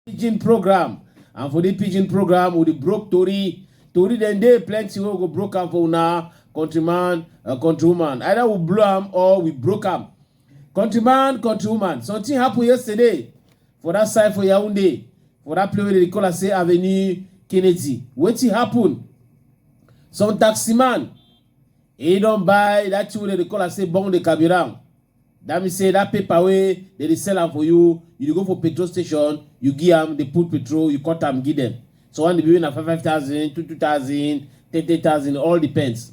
pidgin program and for the pidgin program we dey broke tori tori dem dey plenty wey go broke am for una countryman and uh, countrywoman either we blow am or we broke am Countryman, countrywoman, something happen yesterday for that side for Yaoundé, for that place where they call us say Avenue Kennedy. Wetin happen? Some taxi man, he don buy that thing wey they call us say bong de carburant. That means say that paper wey they dey sell am for you, you dey go for petrol station, you give am, they put petrol, you cut am, give them. So one dey be na five five thousand, two two thousand, ten ten thousand, all depends.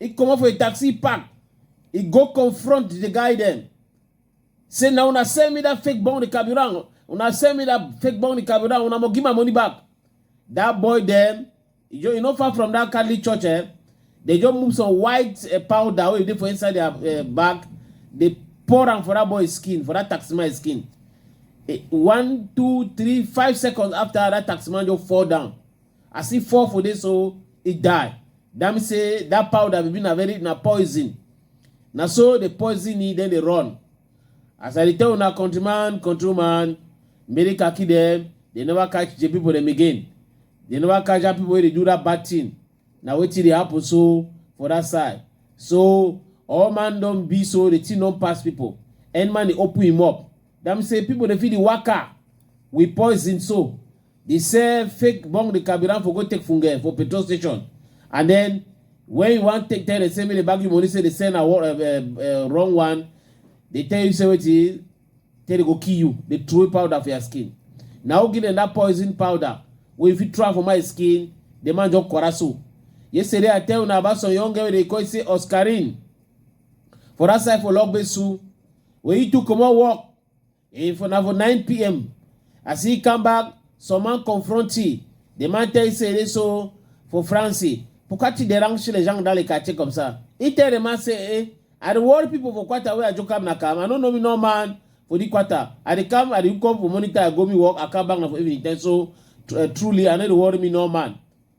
e comot for a taxi park e go confront the guy dem say na una sell me that fake bond carburant una sell me that fake bond carburant una must give my money back that boy dem e just e no far from that catholic church eh they just move some white eh, powder wey dey for inside their eh, bag they pour am for that boy skin for that taxi man skin Eh, one two three five seconds after that taxi man just fall down As e fall for there so, e die. That means say that powder be na very na poison. Na so the poison e then dey run. As I dey tell una countryman, countrywoman, make dey kaki dem, they never catch the people dem again. They never catch that people wey dey do that bad thing. Na wetin dey happen so for that side. So all man don be so the thing don pass people. Any man dey open him up. That means say people dey fit dey waka with poison so. They sell fake bong the carburant for go take funge for petrol station, and then when you want take tell the same way they back you money say they sell na uh, uh, uh, wrong one, they tell you say wetin tell they go kill you, they throw away powder for your skin. Na who give them that poison powder wey you fit throw am for my skin, the man just quarrel so. Yesterday I tell una about some young girl wey dey call say Oscarine for that side for Logbesu wey he too comot work E for na for 9 pm. As he come back, some man confront he. The man tell he say, so for France, pourquoi tu déranges les gens dans les quartiers comme ça? He tell the man say, eh, I dey worry people for quarter where I just come na come. I no know me no man for the quarter. I dey come, I dey come for monitor, I go me work, I come back na for evening time. So tr- uh, truly, I no dey worry me no man.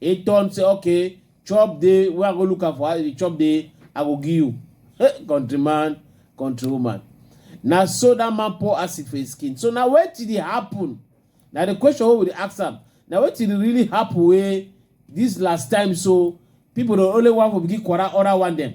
He turn say okay, chop dey wey I go look am for house, if you chop dey, I go give you. Hey, country man, country woman. Na so that man pour acid for his skin. So na wetin dey happen? Na the question wey we dey ask am. Na wetin dey really happen wey this last time so people dey only wan for begin quarrel other one dem.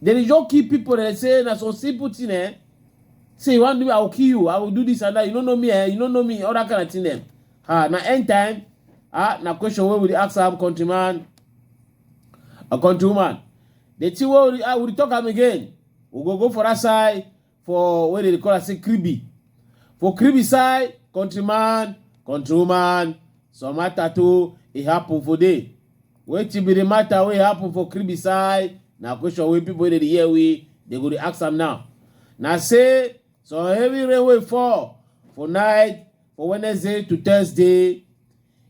Then you just kill people and say na some simple thing eh. Say you want to do I will kill you, I will do this and that. You don't know me eh, you don't know me, all that kind of thing eh. Ah, na end time. Ah, na question where we ask am countryman, a countrywoman. The thing where we, ah, we talk am again. We go go for that side. for wey dey call am say kribi for kribi side countryman countrywoman some matter too e happen for there wetin be the matter wey happen for kribi side na question wey people wey dey dey hear we dey go dey ask am now na say some heavy rain wey fall for night for wednesday to thursday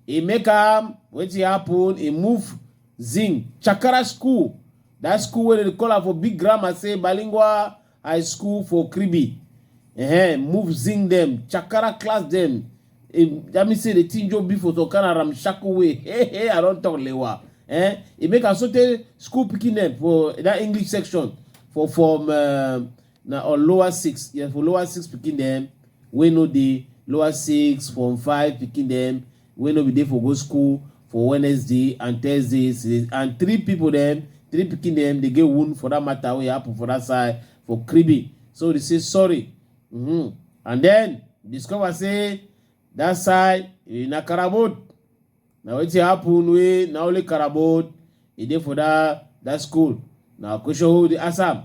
e make am wetin happen e move zing chakara school that school wey dem dey call am for big grammar say bilingual I school for Kribi. Eh, move zing them. Chakara class them. Eh, that means say the thing just be for some kind of ramshackle way. Hey, hey, I don't talk lewa. Eh, it make us certain school picking them for that English section for from uh, na or lower six. Yeah, for lower six picking them. We know the lower six from five picking them. wey no bin dey for go school for Wednesday and Thursday and three pipo dem three pikin dem dey get wound for dat matter wey happen for dat side for Kribi so dey say sorry mm-hmm. and then discover say dat side eh, na Karabod na wetin happen wey na only Karabod e dey for dat dat school na question wey we dey ask am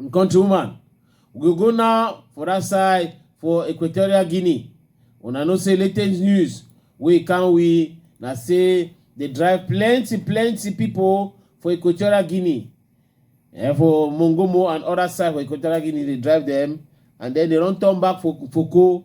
Countrywoman, we go go now for that side for Equatorial Guinea. Una know say latest news wey can we na say dey drive plenty plenty people for Equatorial Guinea. Eh, for Mongomo and other side for Equatorial Guinea, they drive them and then they don't turn back for Foko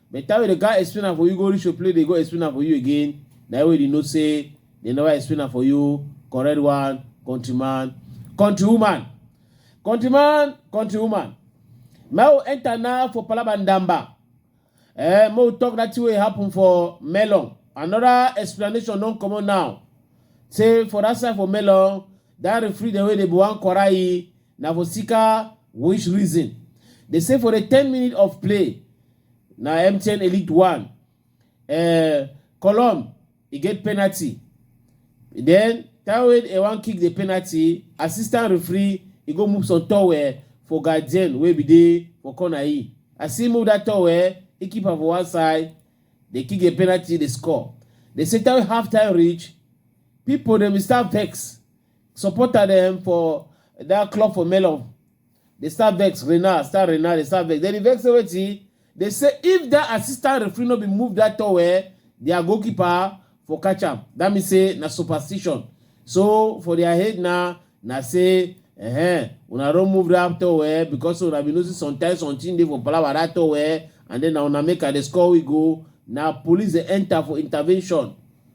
By the time we dey gather explain am for you, go reach your place, dey go explain am for you again. Na you wey dey know say they never explain am for you. Correct one, countryman, countrywoman, countryman, countrywoman. Now we enter now for Palaba Ndamba. Eh, make we talk that thing wey happen for Melon. Another explanation don comot now. Say for that side for Melon, that referee dem wey dey Buwan Kwarai, na for sika which reason dey say for the ten minute of play na mtn elite one uh, column e get penalty then taiwo e wan kick the penalty assistant referee e go move some towel for guardian wey be dey for corner e as he move that towel he keep am for one side dey kick the penalty dey score dey say taiwo half time reach people dem start vex supporter dem for that club for melon dey start vex renal start renal dey start vex dem dey vex say wetin dey say if that assistant referee no be move that towel their goalkeeper for catch am that mean say na superstition so for their head na na say eh una don move that towel because una be notice sometimes something dey for palava that towel and then na una make i dey score we go na police dey enter for intervention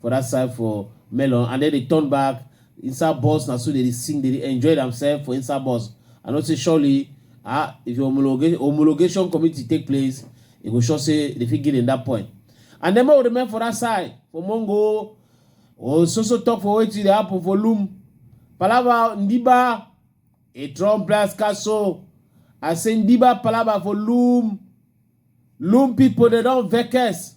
for that side for melon and then they turn back inside bus na so they dey sing they dey enjoy themselves for inside bus i know say surely ah if your homologa- homologation committee take place e go sure say they fit give them that point and then make we remain for that side for mongo oh so so talk for wetin dey happen for loom palava ndiba a trump blast castle i say ndiba palava for loom loom people they don vex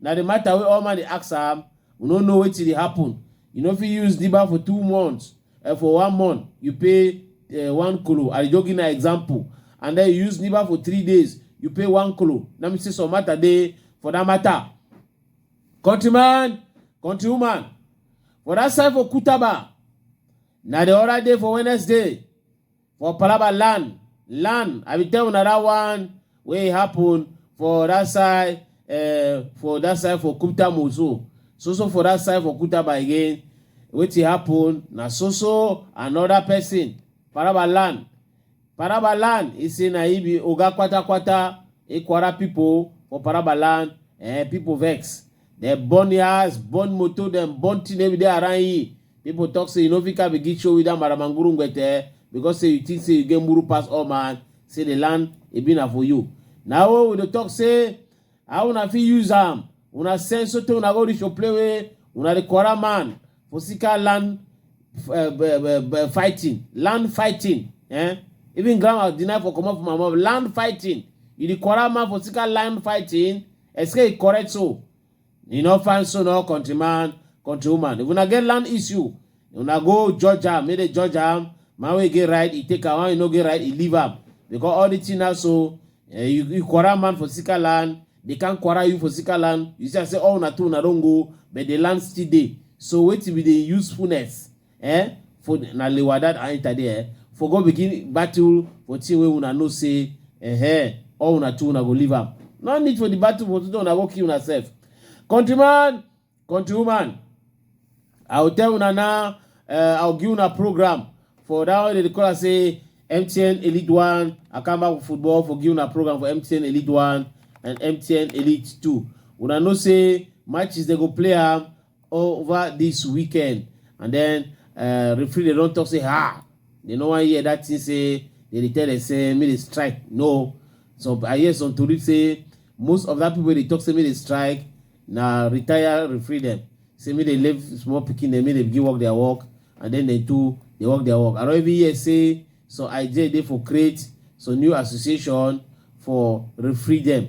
Na the matter wey all man dey ask am, we no know wetin dey happen. You no fit use diba for two months, uh, for one month you pay uh, one kolo. I dey just give na example. And then you use diba for three days, you pay one kolo. That means say some matter dey for that matter. Countryman, countrywoman, for that side for Kutaba, na the other day for Wednesday, for palaba land land i bin tell una that one wey happen for that side uh, for that side for kuta mozo so so for that side for kutaba again wetin happen na so so another person palaba land palaba land e say na he be oga kwatakwata ekwara pipo for palaba land eh, pipo vex Dem burn e house, burn motor dem, burn thing every day around e. People talk say you no fit come begin show with that maramanguru ngwete because say you think say you get muru pass all man, say the land e be na for you. Na wey we dey talk say how una fit use am, una send sotey una go reach ople wey una dey quarrel man for sika land eh, be- be- be- fighting, land fighting. Eh? Even grandma deny for comot for my mouth, land fighting. You dey quarrel man for sika land fighting. Esike e correct so? E no fine so no country man, country woman. If una get land issue, una go judge am, make dey judge am. Man wey get right, e take am. Man wey no get right, e leave am. Because all the thing now so, eh, you, you quarrel man for sicker land, they can't quarrel you for sicker land. You see, I say all una two una don go, but the land still dey. So wetin be the usefulness? Eh, for na lewadad I enter there, eh, for go begin battle for thing wey una know say eh, eh, all una two una go leave am. No need for the battle for today una go kill una sef. Countryman, countrywoman, I will tell una now, uh, I will give una program for that one they dey call am say MTN Elite One, Akamba Football for give una program for MTN Elite One and MTN Elite Two. Una know say matches they go play am over this weekend and then uh, referee dey don talk say ah they no wan hear that thing say they dey tell them say make they strike no so i hear some tori say most of that people wey dey talk say make they strike na retire referee dem say make they leave small pikin dem make they begin work their work and then they too dey work their work i don even hear say some idea dey for create some new association for referee dem